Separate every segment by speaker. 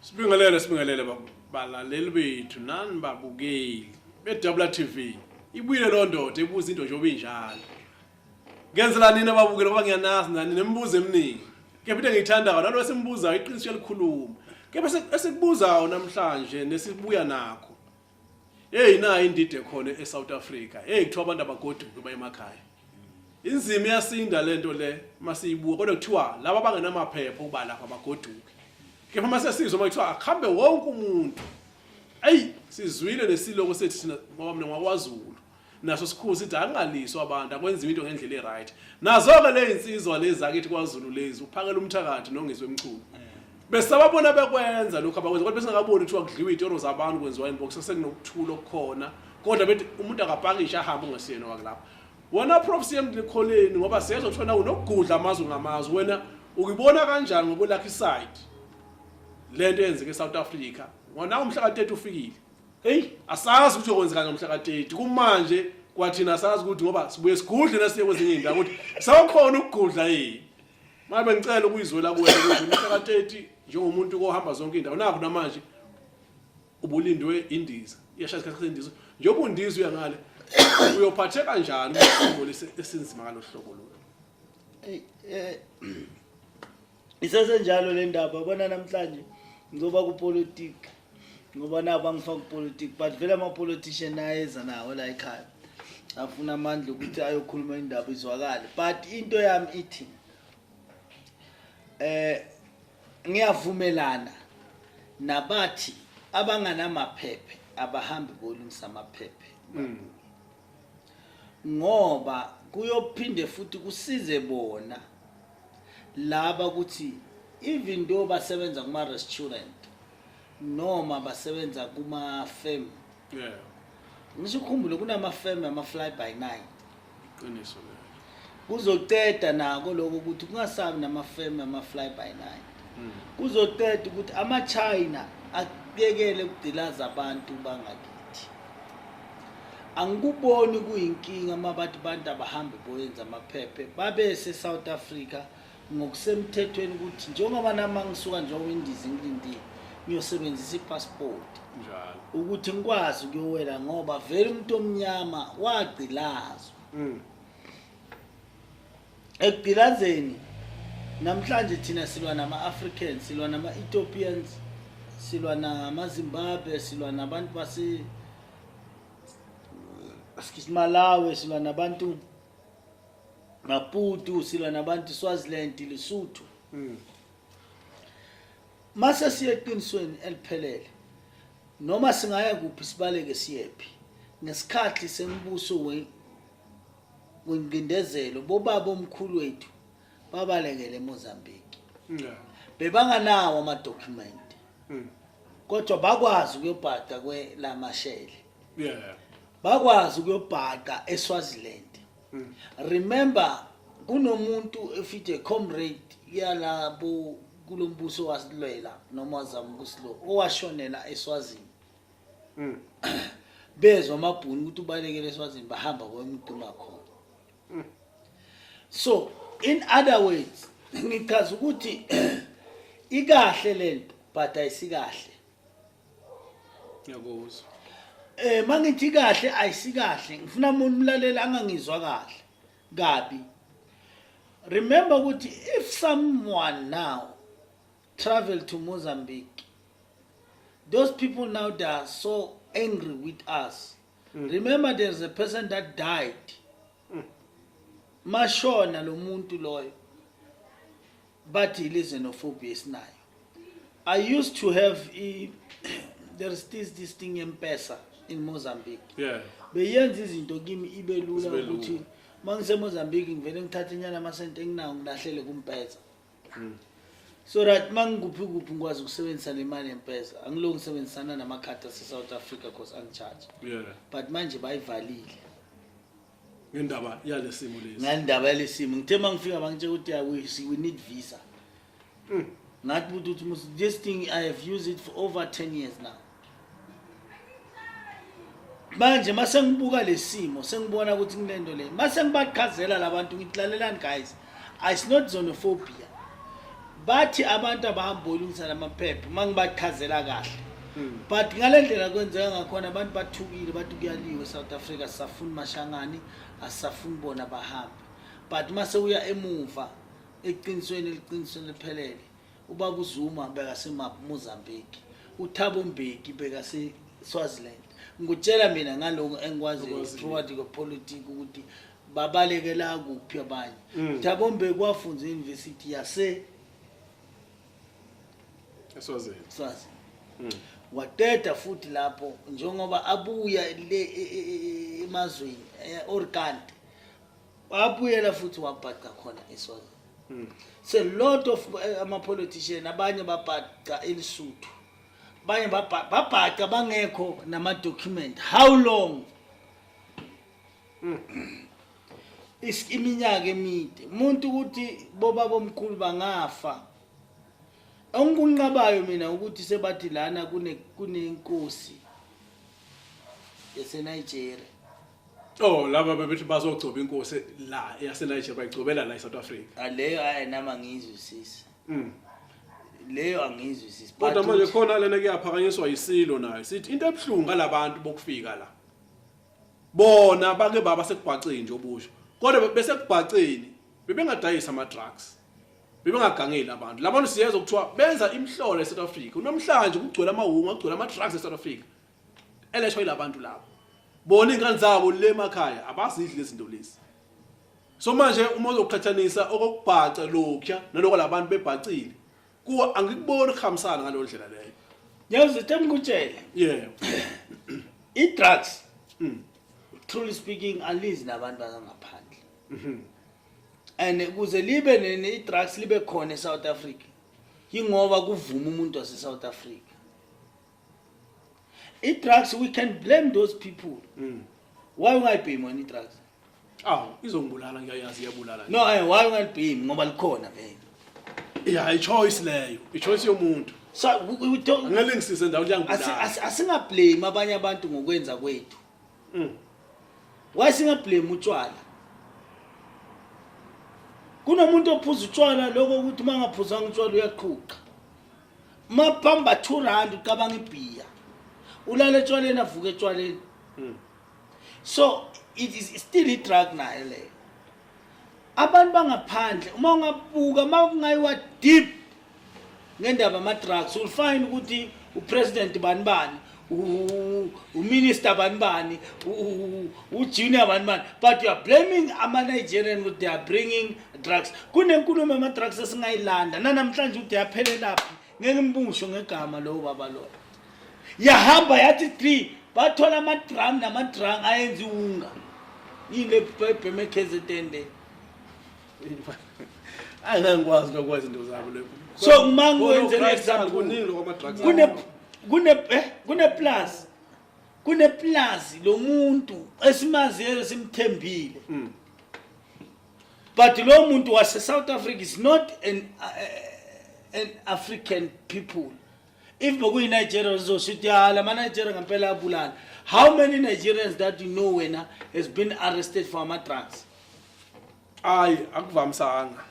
Speaker 1: Sibingelele sibingelele balaleli bethu nani babukeli beDabula TV. Ibuyile lo ndoda ebuza into nje obinjalo. Ngenzela nini ababukeli ngoba ngiyanazi nani nemibuzo eminingi. Kepha into engiyithandayo nalo esimbuzayo iqiniso elikhuluma. Kepha esikubuzayo namhlanje nesibuya nakho Hey nayi indidi ekhona eSouth Africa. Hey kuthiwa abantu abagoduke baye emakhaya. Inzima iyasinda lento le masiyibuka kodwa kuthiwa laba abangenamaphepha uba lapha bagoduke. Kepha mase sizwe makuthiwa akhambe wonke umuntu. Ayi sizwile nesiloko sethu thina ngoba mina ngwakwaZulu. naso sikhulu sithi akungaliswa abantu akwenziwa into ngendlela e-right nazo-ke le yinsizwa lezi akithi kwazulu lezi uphakela umthakathi nongizwe emchunu besababona bekwenza lokhu abakwenza kodwa besingakaboni kuthiwa kudliwa iy'toro zabantu kwenziwa yini bokusa sekunokuthula okukhona kodwa bethi umuntu akapakishe ahambe ungesiyena wakulapho wena prof siyemlikholeni ngoba siyezwa kuthiwa nawe unokugudla amazwi ngamazwi wena ukuyibona kanjani ngokwelakha isayidi le nto eyenzeke e-south africa ngonawo umhla ka-30 ufikile Hey, asazi ukuthi okwenzeka ngomhla ka-30 kumanje kwathina asazi ukuthi ngoba sibuye sigudle nasiye kwezinye indawo ukuthi sawukhona ukugudla yini. Manje bengicela ukuyizwela kuwe ukuthi umhla ka-30 njengomuntu kohamba zonke indawo nakho namanje ubulindwe indiza. Iyashaya isikhathi sesindiza. Njengoba undiza uya ngale uyophatheka kanjani uma usinzima ngalo hlobo lolu? Hey, eh
Speaker 2: isesenjalo le ndaba bona namhlanje ngizoba kupolitiki ngoba nabo angifaki upolitiki but vele ama-politician ayeza nawo la ekhaya afuna amandla ukuthi ayokhuluma indaba izwakale but into yami ithi eh ngiyavumelana nabathi abanganamaphephe abahambi bolungisa amaphephe hmm. ngoba kuyophinde futhi kusize bona laba ukuthi even though basebenza kuma restaurant noma basebenza kuma firm yeah ngisho ukhumbule kunama firm ama fly by night iqiniso
Speaker 1: lelo kuzoceda
Speaker 2: nako lokho ukuthi kungasabi nama firm ama fly by night mm. kuzoceda ukuthi ama china akuyekele ukudelaza abantu bangakithi Angikuboni kuyinkinga uma bathi abantu abahambe boyenza amaphephe babese South Africa ngokusemthethweni ukuthi njengoba nami angisuka njengoba indiza ngilindile ngiyosebenzisa ipassport njalo
Speaker 1: ukuthi ngikwazi
Speaker 2: ukuyowela ngoba vele umuntu omnyama wagcilazwa mm. ekugilazeni namhlanje thina silwa nama-africans silwa nama-ethiopians silwa namazimbabwe silwa nabantu base malawi silwa nabantu maputu silwa nabantu swaziland lesuthu mm. mase siye eqinisweni eliphelele noma singaya kuphi sibaleke siyephi ngesikhathi sembuso Ngingcindezelo bobaba omkhulu wethu babalekele eMozambique. Yeah. Bebanganawo ama document. Mm. Kodwa bakwazi ukuyobhada kwe lamashele. Yeah. Bakwazi ukuyobhada eSwaziland. Mm. Remember kunomuntu efithe comrade yalabo kulombuso wasilwela noma zamukusilo owashonela eSwazini. mm. bezwa amabhunu ukuthi ubalekele eswazini bahamba kwemduma khona mm. so in other words ngichaza ukuthi ikahle lento but ayisikahle
Speaker 1: ngiyakuzwa eh mangithi
Speaker 2: kahle ayisikahle ngifuna umuntu umlalela angangizwa kahle kabi remember ukuthi if someone now travel to Mozambique. Those people now they are so angry with us. Mm. Remember there's a person that died. Mm. Mashona lo muntu loyo. But he lives in Ophobius now. I used to have a, there's this this thing in Pesa in Mozambique. Yeah. Beyenza izinto kimi ibe lula ukuthi mangiseMozambique ngivele ngithathe nyana amasente enginawo ngilahlele kumpesa. Hmm. so right uma ngikuphi kuphi ngikwazi ukusebenzisa le mali yempeza angilo ngisebenzisana namakhadi ase-south africa cause angicharge yeah. but manje bayivalile
Speaker 1: ngendaba yale simo lesi ngendaba yale simo ngithe
Speaker 2: uma ngifika bangitshela ukuthi ya we, see, we need visa mm. ngathi buthi ukuthi this thing i have used it for over 10 years now manje mase ngibuka lesimo sengibona ukuthi kunento le mase ngibaqhazela labantu ngithi lalelani guys it's not xenophobia bathi abantu abahamba olungisa lamaphepha uma ngibaqhazela kahle hmm. but ngale ndlela kwenzeka ngakhona abantu bathukile bathi kuyaliwe south africa sisafuni mashangani asisafuni bona bahambe but uma sewuya emuva eqinisweni eliqinisweni liphelele Ubaba uZuma bekasemap Mozambique. UThabo Mbeki bekase Swaziland. Ngikutshela mina ngaloko engikwaziyo Okwaziyo. throughout the politics ukuthi babalekela kuphi abanye. Mm. Thabo Mbeki wafunza e-University yase Eswazini. Swazi. Mm. Wateta futhi lapho njengoba abuya le e- e- e- emazweni e-Orkant wabuyela futhi wabhaca khona eswazini mm. so lot of eh, ama-politician abanye babhaca elisuthu abanye babhaca bangekho namadocument how long mm. iminyaka emide umuntu ukuthi bobaba omkhulu bangafa onkunqabayo mina ukuthi sebathi lana kunenkosi yaseNigeria Oh
Speaker 1: laba bebethi bazogcoba inkosi la yase Nigeria bayigcobela la eSouth Africa. Aleyo ah, ayi nama
Speaker 2: ngizwisisa. Mm. Leyo angizwisisa. Kodwa manje khona lena
Speaker 1: kuyaphakanyiswa isilo nayo. Sithi into ebuhlungu ngalabantu bokufika la. Bona bake baba sekubhaceni nje obusho. Kodwa bese kubhaceni bebengadayisa ama drugs. Bebengagangeli abantu. Labantu siyeza ukuthiwa benza imhlolo eSouth Africa. Unomhlanje kugcwele amawunga, kugcwele ama drugs eSouth Africa. eleshwa ilabantu labo bona ingane zabo le makhaya abazidli lezinto lezi so manje uma uzoqhathanisa okokubhaca lokya naloko labantu bebhacile kuwa angikuboni ukuhambisana ngalo ndlela leyo yazi
Speaker 2: temkutshele yeah i drugs mm. truly speaking alizi nabantu bangaphandle mhm and kuze libe nini i drugs libe khona e South Africa yingoba kuvuma umuntu wase South Africa i-drugs we can blame those people mm. why ungayibhemi wena i-drugs aw izongibulala
Speaker 1: ngiyayazi iyabulala no eh, why ungalibhemi
Speaker 2: ngoba likhona vele ya i-choice leyo
Speaker 1: i-choice yomuntu so
Speaker 2: ngeke ngisize ndawo liyangibulala
Speaker 1: asingablame
Speaker 2: abanye abantu ngokwenza kwethu mm. why singablame utshwala kunomuntu ophuza utshwala lokho ukuthi uma ngaphuzanga utshwala uyaqhuqa mapamba 2 rand ucabanga ibhiya ulala etshwaleni avuke etshwaleni hmm. so it is still i-drug nayo leyo abantu bangaphandle uma ungabuka uma kungayiwa deep ngendaba ama-drugs ulifind ukuthi upresident bani bani uminister bani bani ujunior bani bani but youare blaming ama-nigerian ukuthi they are bringing drugs kunenkulumo yama-drugs esingayilanda nanamhlanje ukuthi yaphelelaphi ngeke mbusho ngegama lowo baba loyo yahamba yathi three bathola amadrum namadrung ayenza iwunga yini ebheme ekzn le
Speaker 1: Hayi ngeke ngikwazi lokwenza into zabo lokho. So uma ngikwenze
Speaker 2: an example kuningi lokho ama drugs. Kune kune eh kune plus kune plus lo muntu esimaziyo simthembile. Mm. But lo muntu wase South Africa is not an uh, an African people. if bokuyi Nigeria uzoshithi ya lama Nigeria ngempela abulala how many Nigerians that you know wena has been arrested for ama drugs ayi
Speaker 1: akuvamisanga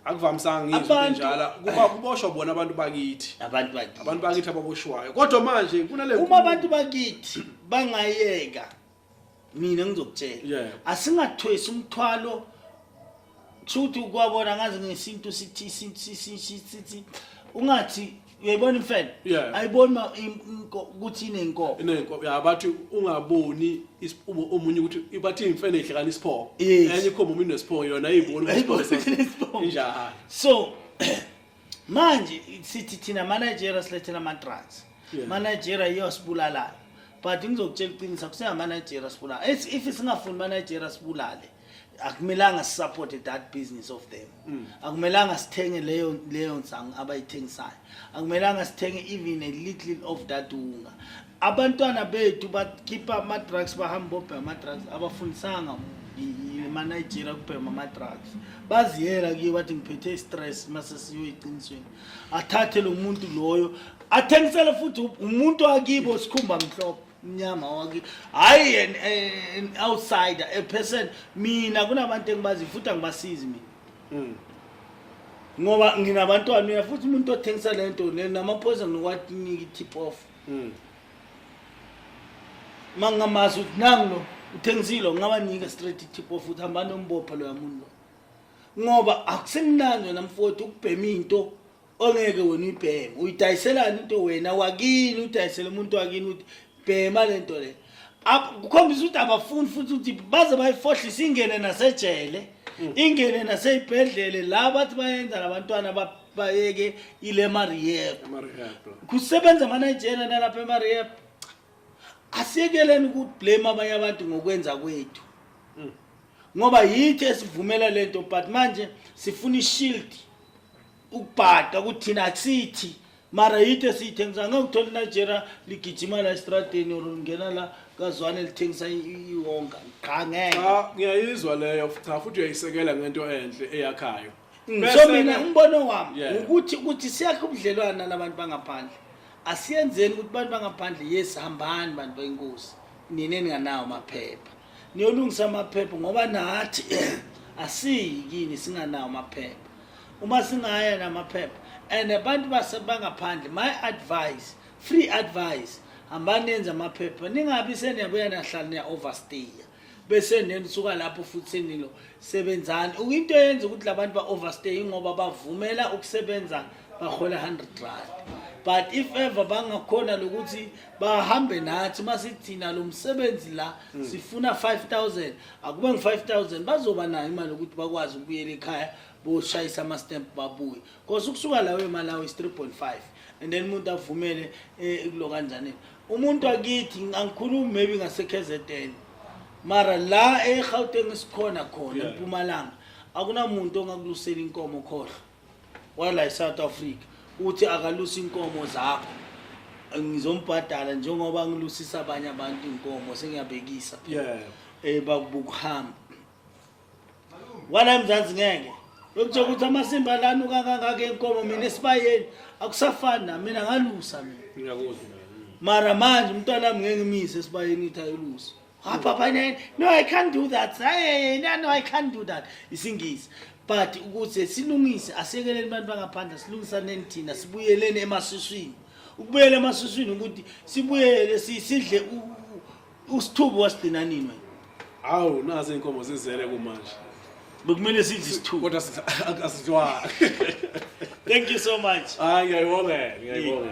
Speaker 1: akuvamisanga ngizwe Abantu- njala kuba kuboshwa bona abantu bakithi abantu bakithi abantu bakithi ababoshwayo kodwa manje kunale uma abantu bakithi
Speaker 2: bangayeka mina ngizokutshela Yeah. asingathwesi umthwalo kusho ukuthi kwabona ngazi ngesintu sithi isintu si- si- si- sithi ungathi uyayibona imfene Yeah. ayiboni ma- im- inko- ukuthi inenkomo inenkomo ya bathi
Speaker 1: ungaboni is- umu- omunye ukuthi bathi imfene ihlekana isiphoko Yes. enye ikhomba umuntu nesiphoyo yona ayiboni ukuthi Ayiboni isiphoko sesiphoyo. ukuthi injalo so
Speaker 2: manje sithi thina manager silethela amatrans yeah. manager iyosibulala but ngizokutshela iqiniso kusengamanager sibulala if singafuni manager sibulale akumelanga sisupporte that business of them mm. akumelanga sithenge leyo leyo nsangu abayithengisayo akumelanga sithenge even a little of that unga abantwana bethu bakhipha ama-drugs bahamba bobhema ama-drugs abafundisanga emanigeria kubhema ama-drugs baziyela kuye bathi ngiphethe i-stress mase siyoyiqinisweni athathe lo muntu loyo athengisele futhi umuntu wakibo sikhumba mhlophe mnyama wakibo hhayi an eh, outsider a person mina kunabantu engibaziyo futhi angibasizi mina hmm. ngoba nginabantwana mina futhi umuntu othengisa le nto namaphoyisa nokwatiniki tip off Mm. Mangamazi ukuthi nangu lo uthengisile ungabanika straight tip of ukuthi hamba nombopha lo yamuntu lo. Ngoba akusemnandi wena mfowethu ukubhema into ongeke wena uyibheme. Uyidayiselana into wena wakini udayisela umuntu wakini uthi bhema lento le. Ab- Kukhombisa ukuthi abafuni futhi ukuthi baze bayifohlise ingene nasejele. Ingene naseyibhedlele la bathi bayenza labantwana ba bayeke ile mariyep kusebenza amanigerian alapha emariyep asiyekeleni ukublame abanye abantu ngokwenza kwethu hmm. ngoba yithi esivumela le nto but manje sifuna ishield ukubhada ukuthi thina akusithi mara yithi esiyithengisa ngeke uthole inigeria ligijima la estradeni or ngena la kazwane lithengisa iwonga qha ngeke ngiyayizwa leyo
Speaker 1: futhi uyayisekela ngento enhle eyakhayo Mm, so Bese-ke- mina
Speaker 2: umbono wami Yeah. ukuthi ukuthi siyakhe ubudlelwane nalabantu bangaphandle asiyenzeni ukuthi abantu bangaphandle yes hambani bantu benkosi nina eninganawo amaphepha niyolungisa amaphepha ngoba nathi asiyi kini singanawo amaphepha uma singaya namaphepha and abantu base- bangaphandle my advice free advice hambani nenze amaphepha ningabi seniyabuya nahlala niya-overstayer bese neni suka lapho futhi senilo sebenzani ukuyinto yenza ukuthi labantu ba overstay ngoba bavumela ukusebenza bahola 100 rand but if ever bangakhona lokuthi bahambe nathi uma sithina lo msebenzi la hmm. sifuna 5000 akube ngu-5000 bazoba nayo imali yokuthi bakwazi ukubuyela ekhaya boshayisa ama-stamp babuye kosa ukusuka lawo emalawi is 3.5 and then umuntu avumele um eh, kulo kanjanini umuntu akithi angikhulumi maybe ngaseKZN mara la eGauteng sikhona khona eMpumalanga akunamuntu ongakulusela inkomo khohlo wala eSouth Africa uthi akalusa inkomo zakho ngizombhadala njengoba ngilusisa abanye abantu inkomo sengiyabekisa yeah eh bakubukuhamba wala emzansi ngeke lokuthe ukuthi amasimba lanuka kangaka enkomo mina esibayeni akusafani na mina ngalusa mina
Speaker 1: mara manje
Speaker 2: umntwana wami ngeke ngimise esibayeni ithi ayilusa ah, papa no i can't do that hey, no, no i can't do that isingisi but ukuze silungise asekeleni abantu bangaphandle silungisaneni thina sibuyeleni emasiswini ukubuyela emasiswini ukuthi sibuyele sidle Usithubu wasigcina nini wena? Hawu nazi
Speaker 1: izinkomo zizele kumanje. Bekumele
Speaker 2: sidle isithubu. Kodwa
Speaker 1: asidlwa.
Speaker 2: Thank you so
Speaker 1: much.
Speaker 2: Hayi ngiyayibonga, ngiyayibonga.